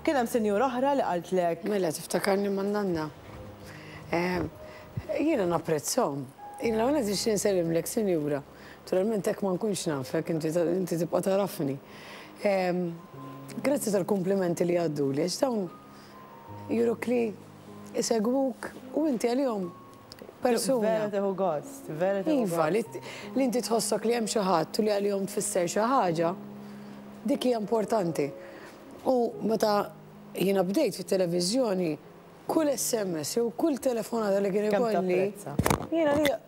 Kien hemm sinjura oħra li qaltlek. Mela tiftakarni man nanna. Ehm, jiena napprezzhom. Jiena għana tix nsellimlek sinjura. Naturalment hekk ma nkunx nafek, inti tibqa' tarafni. Ehm, grazzi tal-komplimenti li għaddu li għax dawn juruk li jsegwuk u inti għalihom persuna. Vera tieħu gost, vera tieħu gost. Iva, li inti tħossok li hemm xi ħadd u li għalihom tfisser xi ħaġa, dik hija importanti. U meta jiena bdejt fit-televiżjoni, kull SMS jew kull telefonata li kien ikolli, jiena li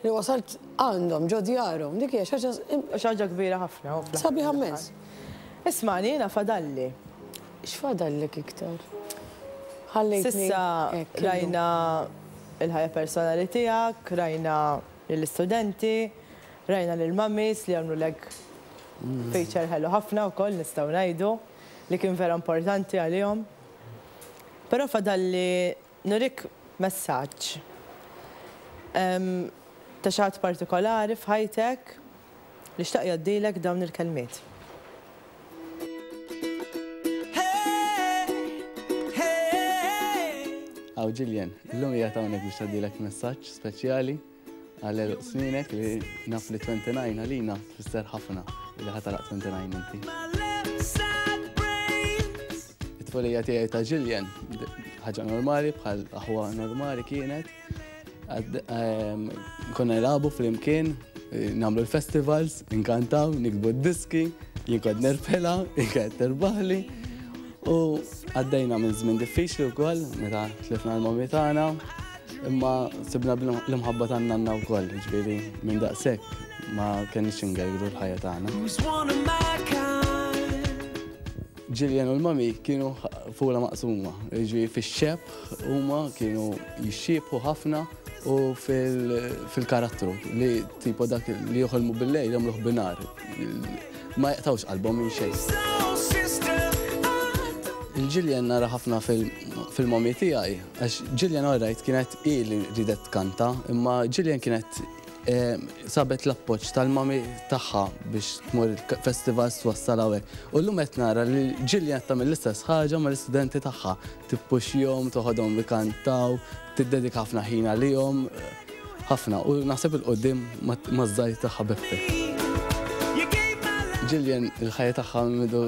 Li wasalt għandhom, ġo djarhom. Dik hija xi ħaġa. Xi ħaġa kbira ħafna u fl-aħħar. Sabiħa mmens. Ismagħni, jiena fadalli. X'fadallek iktar? Ħallejtni. S'issa rajna l-ħajja personali tiegħek, rajna lill-istudenti, rajna lill-mummies li għamlulek feature ħelu ħafna wkoll nistgħu ngħidu, li kien vera importanti għalihom. Però fadalli Nurik messaġġ ta' xi ħadd partikolari f'ħajtek li xtaq jgħoddilek dawn il-kelmiet. Hawn Jillian, illum qiegħed hawnhekk biex jgħoddilek messaġġ speċjali. Għalel sminek li naf li 29 għalina tfisser ħafna li ħatalaq 29 inti. It-tfolija tiegħi ta' Jillian, ħaġa normali bħal aħwa normali kienet. Ehm, konna nilagħbu flimkien, eh, nagħmlu l-festivals, inkantaw, nikbu d-diski, jinkod nerfela, jinkod terbaħli. U għaddejna minn żmien diffiċli wkoll meta tlifna l-mommi tagħna, Imma sibna l-imħabba ta' nanna wkoll, ġifieri minn daqshekk ma kenniex ingergru l-ħajja tagħna. Ġiljen u l-mami kienu fula maqsuma, ġi fil-xeb huma kienu jixxiebħu ħafna u fil-karattru li tipo dak li joħolmu bil-lejl jagħmluh binar. Ma jaqtawx qalbhom minn xejn. Il-Ġiljen nara ħafna fil-mami tiegħi Għax Gillian alright kienet hi li ridet tkanta, imma Gillian kienet ehm, sabet l-appoġġ tal-mami tagħha biex tmur festival twassal hawnhekk. U llum qed nara li Gillian tagħmel l-istess ħaġa mal-istudenti tagħha. Tippuxxihom, toħodhom ikantaw, tiddedika ħafna ħin għalihom, ħafna u naħseb il-qoddim maż-żgħir tagħha b'effett. Jillian il-ħajja tagħha midu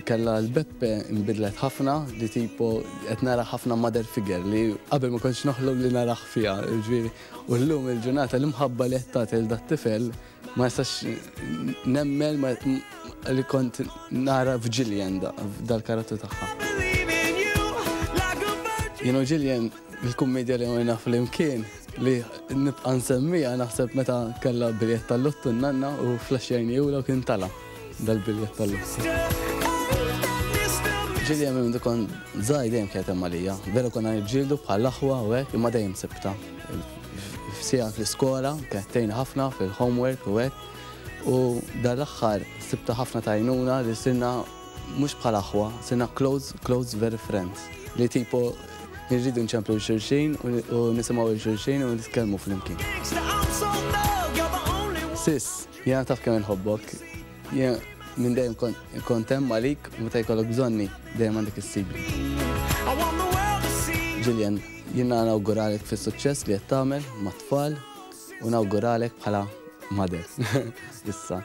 Kellha l-Beppe nbidlet ħafna li tipo qed nara ħafna mother figure li qabel ma kontx noħlom li narah fiha, jiġifieri u llum il-ġurnata l-imħabba li qed tagħti lil dat-tifel ma nistax nemmen li kont nara f'Jillian dal-karattru tagħha. Jien u Jillian il-kummedja li għamilna flimkien li nibqa' nsemmiha naħseb meta kellha biljett tal-lottu n-nanna u flaxxejni ewla kien tala'. dal-biljett tal-lotto. Ġili għamil minn dikon zaħi dejjem kienet hemm għalija. Vera konna nġildu bħal aħwa u hekk imma dejjem sibta. F'sija fl-iskola, kienet ħafna fil-homework u hekk. U dal-aħħar sibta ħafna tajnuna li sinna mhux bħal aħwa, sinna close, close very friends. Li tipo nirridu nċemplu l-xurxin u nisimaw l-xurxin u nitkellmu fl-imkien. Sis, Jiena taf kemm inħobbok. Jiena minn dejjem kont hemm għalik u meta jkollok bżonni dejjem għandek issibni. Jillian, jiena nawguralek fis-suċċess li qed tagħmel mat-tfal u nawguralek bħala mother. Issa.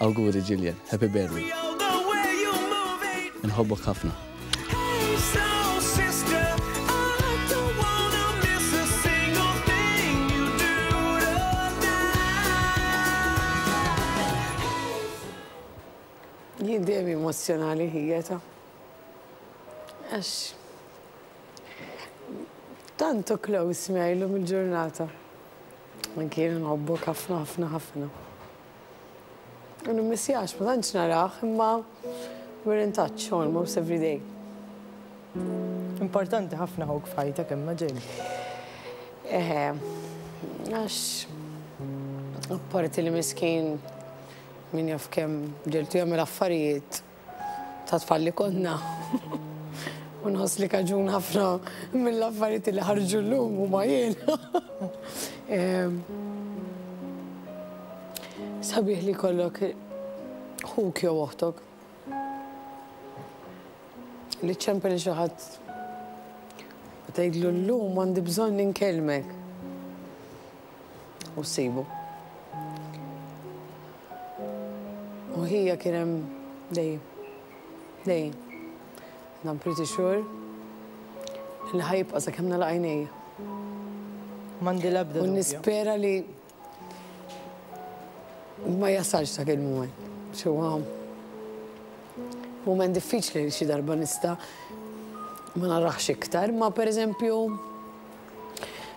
Awguri Jillian, happy birthday. Inħobbok ħafna. Jien dejjem emozzjonali ħijeta. Għax tantu close miegħi lum il-ġurnata. Anki jien nħobbok ħafna ħafna ħafna. U nimmissjax, ma tantx narah, imma we're in touch almost every day. Importanti ħafna ħuk f'ħajtek imma Jane. Eħe, għax apparti li miskin min jaf kemm ġeltu jagħmel affarijiet ta' tfal li konna. U nħoss li kaġun ħafna mill-affarijiet li ħarġu llum u ma jien. Sabiħ li kollok ħuk jew oħtok. Li ċempel li xaħat tgħidlu llum għandi bżonn ninkelmek. u ssibu. U ħija kien hemm dejjem. Dejjem. And I'm pretty sure li ħajibqa' sakemm nagħlaq għajnejja. M'għandi l-ebda dubju. U nispera li ma jasalx dak il-mument. Xewwa mument diffiċli li xi darba nista' ma narax iktar, ma pereżempju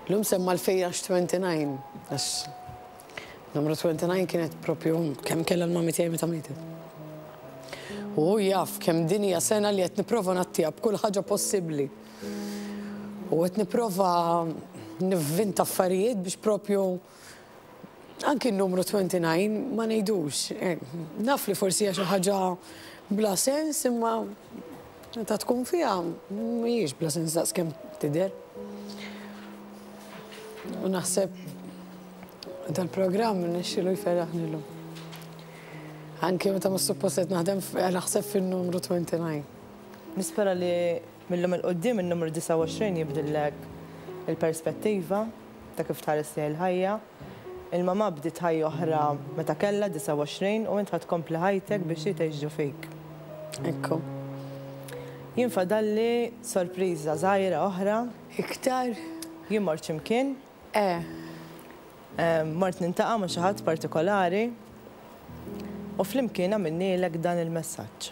L-imsemma l-Fejjax 29, għax numru 29 kienet propju kemm kellha l-mami tiegħi meta mietet. U hu jaf kemm din hija sena li qed nipprova nattija b'kull ħaġa possibbli. U qed nipprova nivvinta affarijiet biex propju Anki n-numru 29 ma ngħidux. Eh, naf li forsi hija xi ħaġa bla sens imma ta' tkun fiha mhijiex bla sens daqskemm tidher. U naħseb tal-programm nixxilu jferraħ nillu. Anki meta ma supposet naħdem naħseb fin-numru 29. Nispera li millum il-qoddim il-numru 29 jibdillek il-perspettiva. Ta' kif tħares lejn il-ħajja. Il-mamà bdiet ħajja oħra meta kellha 29 u int ħa tkompli ħajtek biex hi tgħix ġo fik. Ekku. Jien fadalli sorpriża żgħira oħra. Iktar? Jien mort xi mkien. Eh. Mort nintaqa' ma' xi ħadd partikolari u flimkien għamilnielek dan il-messaġġ.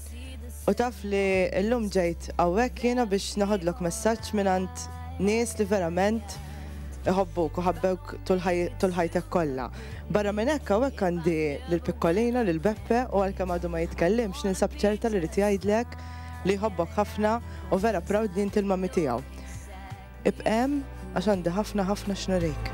U taf li llum ġejt hawnhekk jiena biex naħodlok messaġġ mingħand nies li verament iħobbuk u ħabbewk tul ħajtek kollha. Barra minn hekk hawnhekk għandi lil Pikkolina, lil Beppe u għalkemm għadu ma jitkellimx ninsab ċerta li rid jgħidlek li jħobbok ħafna u vera proud li inti l-mommy tiegħu. Ibqa' hemm għax għandi ħafna ħafna x'nurik.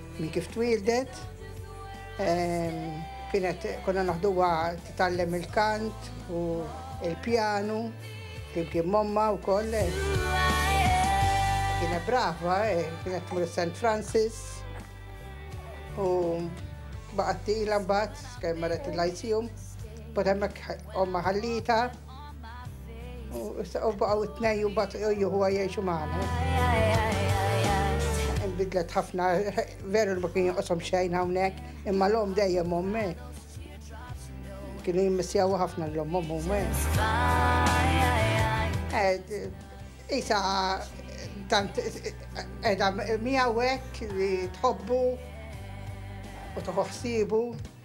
Minn kif twieldet, kienet konna naħduha titgħallem il-kant u l-pjanu flimkien momma wkoll. Kienet brava, kienet tmur St. Francis u baqgħet tila mbagħad kemm marret il-Lyceum, bad hemmhekk omma ħallita. U issa u baqgħu t-tnej u bat juħuha jgħixu magħna. Bidlet ħafna, veru li ma kien joqosom xejn hawnhekk, imma l-om dejjem ommi. Kienu jimmissjaw ħafna l-om ommi. Isa tant edha miegħu hekk li tħobbu u toħoħsibu.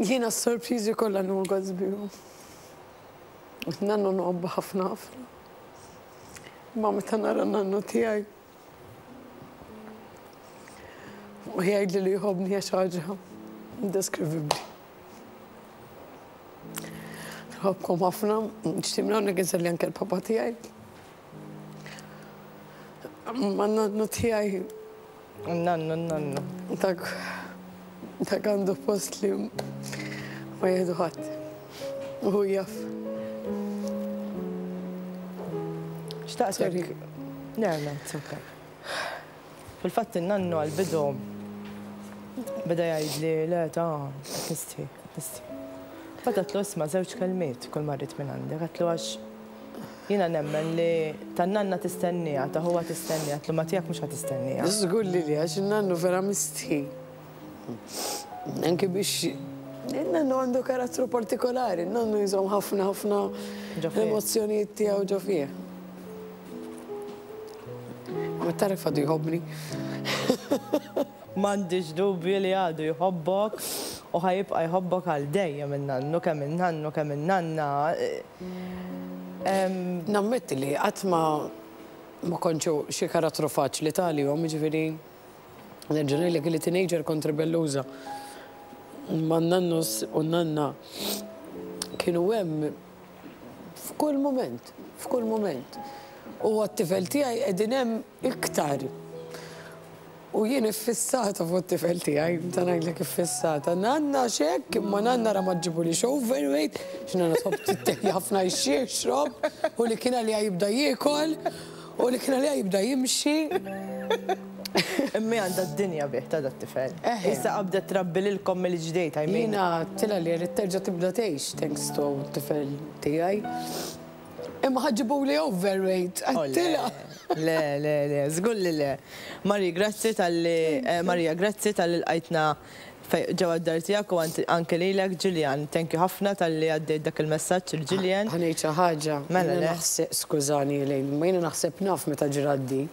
Jiena s-sorpriżi kollha nogħoz bihom. Nannu nħobbu ħafna ħafna. Ma meta nara nannu tiegħi. U jgħidli li jħobbni għax ħaġa indeskrivibbli. Nħobbkom ħafna, nixtieq minn hawnhekk inselli anke l-papa tiegħi. Ma nannu tijaj. Nannu, nannu. Dak, dak għandu post li ma jihdu ħadd. Uhu jaff. Xtaqsek. Le, le, it's okay. Fil-fatt nannu għal-bidu beda jgħid li le ta' nisti, nisti. Fatatlu isma' żewġ kelmiet kull marrit minn għandi, għatlu għax Jiena nemmen li tan-nanna tistennieha, ta' ħuha tistennieha, t-tliema tiegħek mhux ħa tistennieha. Żgur li le, għax in-nannu vera mistħi. Anki biex in-nannu għandu karattru partikolari, in-nannu jżomm ħafna ħafna emozzjonijiet tiegħu ġo fih. Ma taref għadu jħobbni. M'għandix dubju li għadu jħobbok u ħa jibqa' jħobbok għal dejjem in-nannu, kemm in-nannu kemm in-nanna. Nammetti li qatt ma ma kontx xi karattru faċli talihom, jiġifieri nerġa' ngħidlek li teenager kont ribelluża. Ma n-nannus u n-nanna kienu hemm f'kull mument, f'kull mument. U għat-tifel tiegħi qegħdin hemm iktar. U jien iffissata fuq it-tifel tiegħi, meta ngħidlek iffissata. Nanna x'hekk, imma nanna ra ma ġġibulix overweight, għax nanna tħobb tittehi ħafna jxixrob, u li kien għaliha jibda jiekol, u li kien għaliha jibda jimxi. Imma hi għandha d-dinja bih ta' dat-tifel. Issa qabdet trabbi lilkom mill-ġdejt, I mean. Jiena għedtilha li rrid terġa' tibda tgħix thanks to t-tifel tiegħi. Imma ħa ġibuli overweight għat-tilgħa. Oh, le, le, le, żgur li le. Marie, grazzi talli Maria, grazzi talli lqajtna ġewwa d-dar tiegħek u anke lilek Julian, thank you ħafna talli għaddejt dak il-messaġġ lil Julian. Ħa ngħid xi ħaġa. Mela le. Skużani Elaine, imma jiena naħseb naf meta ġrat di.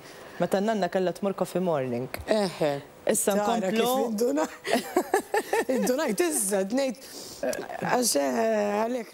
Meta n-nanna kellha tmur coffee morning. Eħe. Issa nkomplu. Indunajt issa, qed ngħid għax għalhekk.